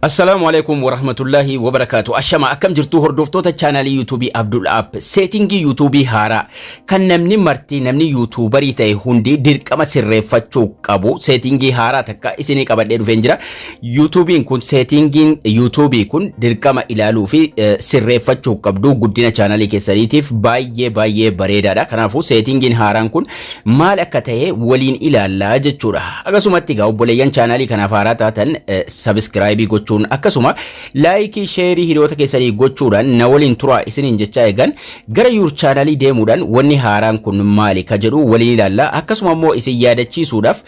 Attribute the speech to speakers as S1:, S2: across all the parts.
S1: Assalaamu Aleeykum Warahmatullaahi Wabarakaatu. Ashama akkam jirtuu hordoftoota chaanaalii yuutuubii Abdul App. Seetingii yuutuubii haaraa kan namni marti namni yuutuubarii ta'e hundi dirqama sirreeffachuu qabu. Seetingii haaraa takka isinii qabadhee dhufeen jira. Yuutuubiin kun seetingiin yuutuubii kun dirqama ilaaluu fi eh, sirreeffachuu qabdu guddina chaanaalii keessaniitiif baay'ee baay'ee bareedaadha. Kanaafuu seetingiin haaraan kun maal akka ta'e waliin ilaalla jechuudha. Akkasumatti egaa obboleeyyan chaanaalii kanaaf haaraa taatan sabiskiraayibii gochuun akkasuma laayikii sheerii hiriyoota keessanii gochuudhaan na waliin turaa isiniin jechaa eegan gara yuur chaanaalii deemuudhaan wanni haaraan kun maali ka jedhu waliin ilaalla akkasuma immoo isin yaadachiisuudhaaf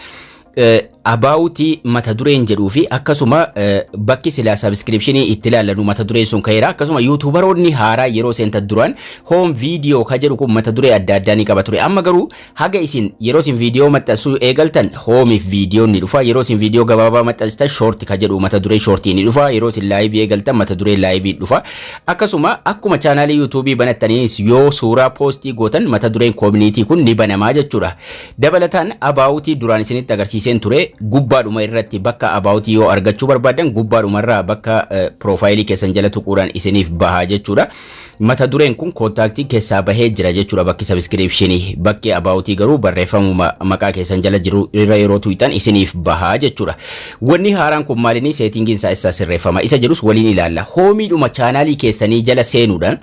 S1: abaawutii mata dureen jedhuu fi akkasuma bakki silaa sabiskiripshinii itti ilaallannu mata dureen sun ka'eera akkasuma yuutuubaroonni haaraa yeroo seenta duraan hoom viidiyoo ka jedhu kun mata duree adda addaa ni qaba ture amma garuu haga isin yeroo isin viidiyoo maxxansuu eegaltan hoomiif viidiyoon ni dhufa yeroo isin viidiyoo gabaabaa maxxanstan shoorti ka jedhu mata duree shoortii ni dhufa yeroo isin laayivii eegaltan mata duree laayivii dhufa akkasuma akkuma chaanaalii yuutuubii banattaniinis yoo suuraa poostii gootan mata dureen koominiitii kun ni banamaa jechuudha Dabalataan About duraan isinitti agarsiiseen ture gubbaadhuma irratti bakka About yoo argachuu barbaaddan gubbaadhuma irraa bakka piroofaayilii keessan jala tuquudhaan isiniif bahaa jechuudha. Mata dureen kun kontaaktii keessaa bahee jira jechuudha bakki sabiskiriipshinii bakki About garuu barreeffamuma maqaa keessan jala jiru irra yeroo tuqxan isiniif bahaa jechuudha. Wanni haaraan kun maalinii seetingiin isaa eessaa sirreeffama isa jedhus waliin ilaalla. Hoomiidhuma chaanaalii keessanii jala seenuudhaan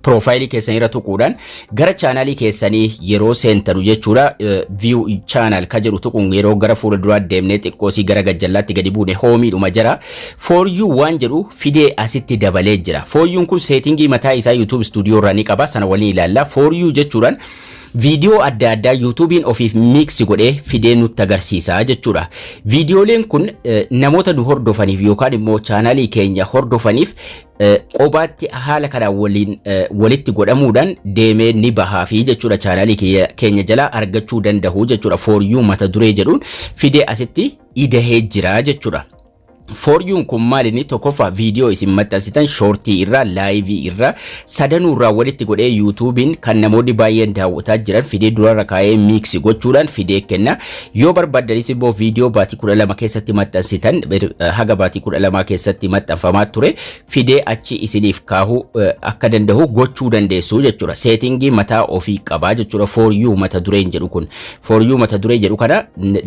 S1: piroofaayilii keessanii irra tuquudhaan gara chaanaalii keessanii yeroo seentanu jechuudha view channel ka jedhu tuquun yeroo gara fuula duraa deemnee xiqqoosii gara gajjallaatti gadi buune hoomiidhuma jira for you waan jedhu fidee asitti dabalee jira for you kun seetingii mataa isaa YouTube studio irraa ni qaba sana waliin ilaalla for you jechuudhaan viidiyoo adda addaa yuutuubiin ofiif miiksi godhee fidee nutti agarsiisa jechuudha. Viidiyooleen kun namoota nu hordofaniif yookaan immoo chaanaalii keenya hordofaniif Qobaatti haala kanaan waliin walitti godhamuudhaan deemee ni bahaa fi jechuudha chaanaalii keenya jalaa argachuu danda'u jechuudha fooryuu mata duree jedhuun fidee asitti idahee jira jechuudha. Fooryuun kun maalinni tokkoffaa viidiyoo isin maxxansitan shoortii irraa laayivii irraa sadanuu irraa walitti godhee yuutuubiin kan namoonni baay'een daawwataa jiran fidee durarra kaa'ee miiksi gochuudhaan fidee kenna. Yoo barbaaddanis immoo viidiyoo baatii 12 keessatti maxxansitan haga baatii 12 keessatti maxxanfamaa ture fidee achi isiniif kaahuu akka danda'u gochuu dandeessu jechuudha. Seetingii mataa ofii qabaa jechuudha for you mata dureen jedhu kun. For you mata duree jedhu kana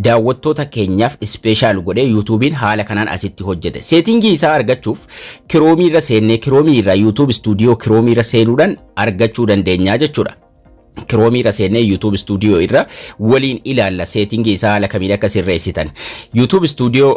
S1: daawwattoota keenyaaf ispeeshaal godhee yuutuubiin haala kanaan asitti hojjete. Seetingii isaa argachuuf kiroomiirra seennee kiroomiirra yuutuub istuudiyoo kiroomiirra seenuudhaan argachuu dandeenya jechuudha. kiroomiirra seennee YouTube Studio irra waliin ilaalla seetingii isaa haala kamiin akka sirreessitan. YouTube Studio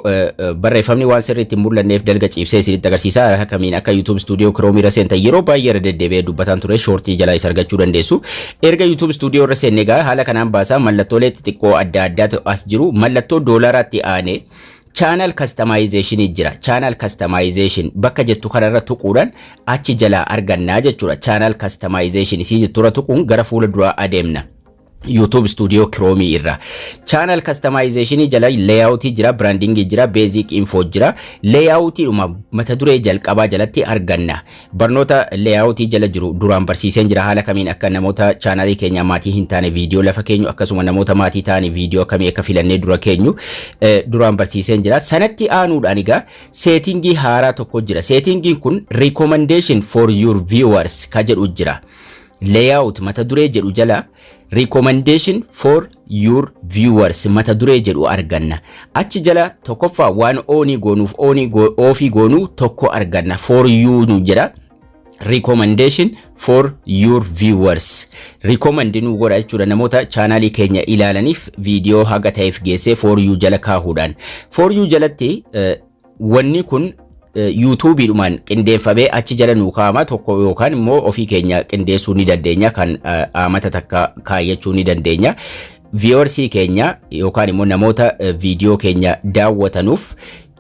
S1: barreeffamni waan sirriitti hin mul'anneef dalga ciibsee isinitti agarsiisa haala kamiin akka YouTube Studio kiroomiirra seentan yeroo baay'ee irra deddeebi'ee dubbataan ture shoortii jalaa isa argachuu dandeessu. Erga YouTube Studio irra seenne egaa haala kanaan baasaa mallattoolee xixiqqoo adda addaatu as jiru mallattoo doolaaraatti aanee Channel Customization jira. Channel Customization bakka jettu kanarra tuquudhaan achi jalaa arganna jechuudha. Channel Customization isii jetturra tuquun gara fuula duraa adeemna. YouTube Studio Chrome irra channel customization jala layout jira branding jira basic info jira layout dhuma mata duree jalqabaa jalatti arganna Barnoota layout jala jiru duraan barsiiseen jira haala kamiin akka namoota chaanaalii keenyaa maatii hin taane viidiyoo lafa keenyu akkasuma namoota maatii ta'anii viidiyoo akkamii akka filannee dura keenyu eh, duraan barsiiseen jira sanatti aanuudhaan egaa seetingii haaraa tokko jira seetingiin kun recommendation for your viewers ka jedhu jira layout mata duree jedhu jala Recommendation for your viewers mata duree jedhu arganna. Achi jala tokkoffaa waan oonii goonuuf oonii go- oofii goonuu tokko arganna. For you nu jedha. recommendation for your viewers recommend nu godha jechuudha namoota chaanaalii keenya ilaalaniif viidiyoo haga ta'eef geessee for you jala kaahuudhaan for you jalatti eh, Wanni kun yuutuubiidhumaan qindeeffamee achi jala nuu kaa'ama tokko yookaan immoo ofii keenya qindeessuu ni dandeenya kan aamata takka kaayyachuu ni dandeenya. Viiwarsii keenya yookaan immoo namoota viidiyoo keenya daawwatanuuf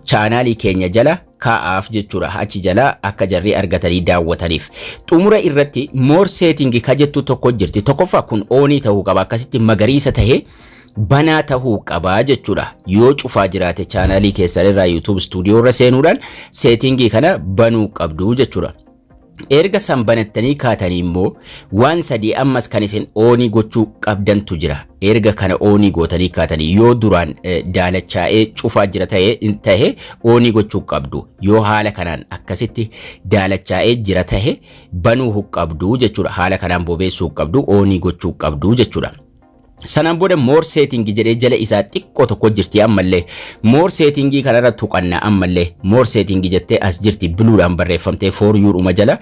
S1: chaanaalii keenya jala kaa'aaf jechuudha. Achi jala akka jarri argatanii daawwataniif. Xumura irratti more setting ka jettu tokko jirti. Tokkoffaa kun oonii ta'uu qaba. Akkasitti magariisa ta'ee banaa tahuu qaba jechuudha. Yoo cufaa jiraate chaanaalii keessan irraa YouTube Studio irra seenuudhaan seetingii kana banuu qabdu jechuudha. Erga san banattanii kaatanii immoo waan sadii ammas kan isin oonii gochuu qabdantu jira. Erga kana oonii gootanii kaatanii yoo duraan daalachaa'ee cufaa jira tahe oonii gochuu qabdu. Yoo haala kanaan akkasitti daalachaa'ee jira tahe banuu qabdu jechuudha. Haala kanaan bobeessuu qabdu oonii gochuu qabdu jechuudha. Sanaan booda more setting jedhee jala isaa xiqqoo tokko jirti ammallee more setting kanarra tuqanna ammallee more setting jettee as jirti buluudhaan barreeffamtee for you dhuma jala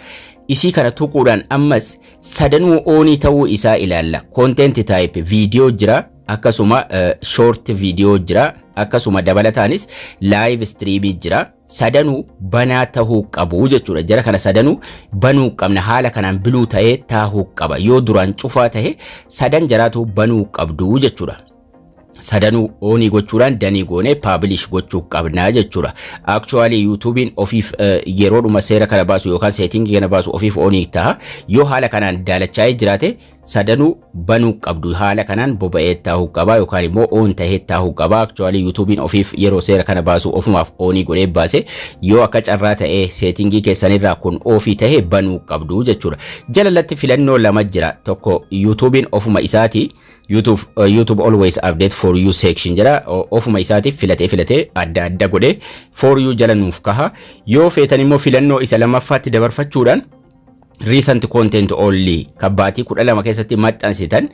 S1: isii kana tuquudhaan ammas sadanuu oonii ta'uu isaa ilaalla content type video jira akkasuma short video jira akkasuma dabalataanis live streamii jira. sadanuu banaa tahuu qabu jechuudha. Jara kana sadanuu banuu qabna haala kanaan biluu ta'ee taahuu qaba. Yoo duraan cufaa tahe sadan jaraatu banuu qabdu jechuudha. Sadanuu oonii gochuudhaan danii goonee paabilish gochuu qabna jechuudha. Actually yuutuubiin ofiif yeroodhuma seera kana baasu yookaan seetingii kana baasu ofiif oonii taha. Yoo haala kanaan daalachaa'ee jiraate sadanuu banuu qabdu haala kanaan boba'ee taa'uu qabaa yookaan immoo oon ta'ee taa'uu qabaa aktuwaalii yuutuubiin ofiif yeroo seera kana baasu ofumaaf oonii godhee baase yoo akka carraa ta'ee seetingii keessanirraa kun oofii ta'ee banuu qabdu jechuudha jalalatti filannoo lama jira tokko yuutuubiin ofuma isaatii YouTube, uh, YouTube always update for you section jedha ofuma isaatiif filatee filatee adda adda godhee for you jala nuuf kaha yoo feetan immoo filannoo isa lammaffaatti dabarfachuudhaan recent content only kan baatii kudha lama keessatti maxxansitan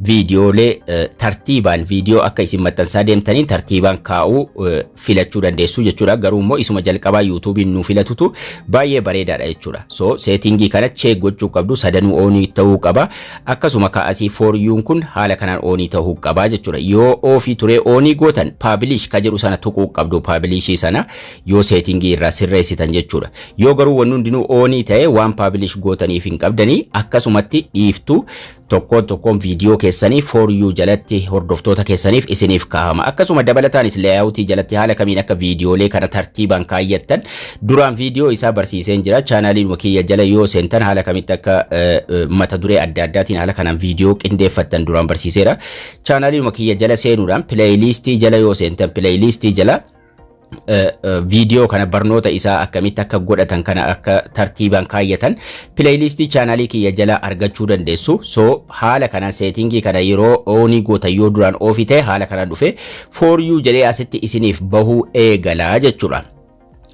S1: viidiyoolee eh, tartiibaan viidiyoo akka isin maxxansaa deemtaniin tartiibaan kaa'uu eh, filachuu dandeessu jechuudha garuu immoo isuma jalqabaa yuutuubiin nu filatutu baay'ee bareedaadha jechuudha so seetingii kana cheek gochuu qabdu sadanuu oonii ta'uu qaba akkasuma kaasii fooryuun kun haala kanaan oonii ta'uu qaba jechuudha yoo oofii turee oonii gootan paabilish ka jedhu sana tuquu qabdu paabilishii sana yoo seetingii irraa sirreessitan jechuudha. Yoo garuu wanni hundinuu oonii ta'e waan paabilish gootaniif hin qabdanii akkasumatti dhiiftu tokkoon tokkoon viidiyoo keessanii for you jalatti hordoftoota keessaniif isiniif kaahama. Akkasuma dabalataanis layout jalatti haala kamiin akka viidiyoolee kana tartiibaan kaayyattan duraan viidiyoo isaa barsiiseen jira. Chaanaaliin kiyya jala yoo seentan haala kamitti akka mata duree adda addaatiin haala kanaan viidiyoo qindeeffattan duraan barsiiseera. Chaanaaliin kiyya jala seenuudhaan pileeyiliistii jala yoo seentan pileeyiliistii jala viidiyoo kana barnoota isaa akkamitti akka godhatan kana akka tartiibaan kaayyatan pileeylistii chaanaalii kiyya jalaa argachuu dandeessu. So haala kanaan seetingii kana yeroo oonii goota yoo duraan oofii ta'e haala kanaan dhufe for you jedhee asitti isiniif bahuu eegalaa jechuudha.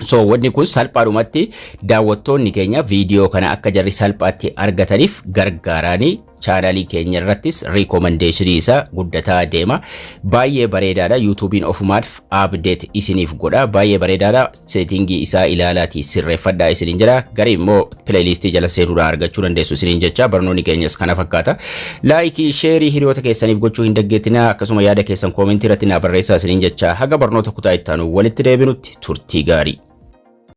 S1: So wanni kun salphaadhumatti daawwattoonni keenya viidiyoo kana akka jarri salphaatti argataniif gargaaraanii Chaanalii keenya irrattis riikomandeeshinii isaa guddataa deema. Baay'ee bareedaadha. Yuutuubiin ofumaaf update isiniif godha. Baay'ee bareedaadha. Seetingii isaa ilaalaatii sirreeffadhaa isiniin jedha. Garii immoo pileeylistii jala seenuudhaan argachuu dandeessu isiniin jecha barnoonni keenyas kana fakkaata. Laayikii, sheerii hiriyoota keessaniif gochuu hin daggeettinaa akkasuma yaada keessan koomentii irratti naa barreessaa isiniin jecha haga barnoota kutaa itti aanu walitti deebinutti turtii gaarii.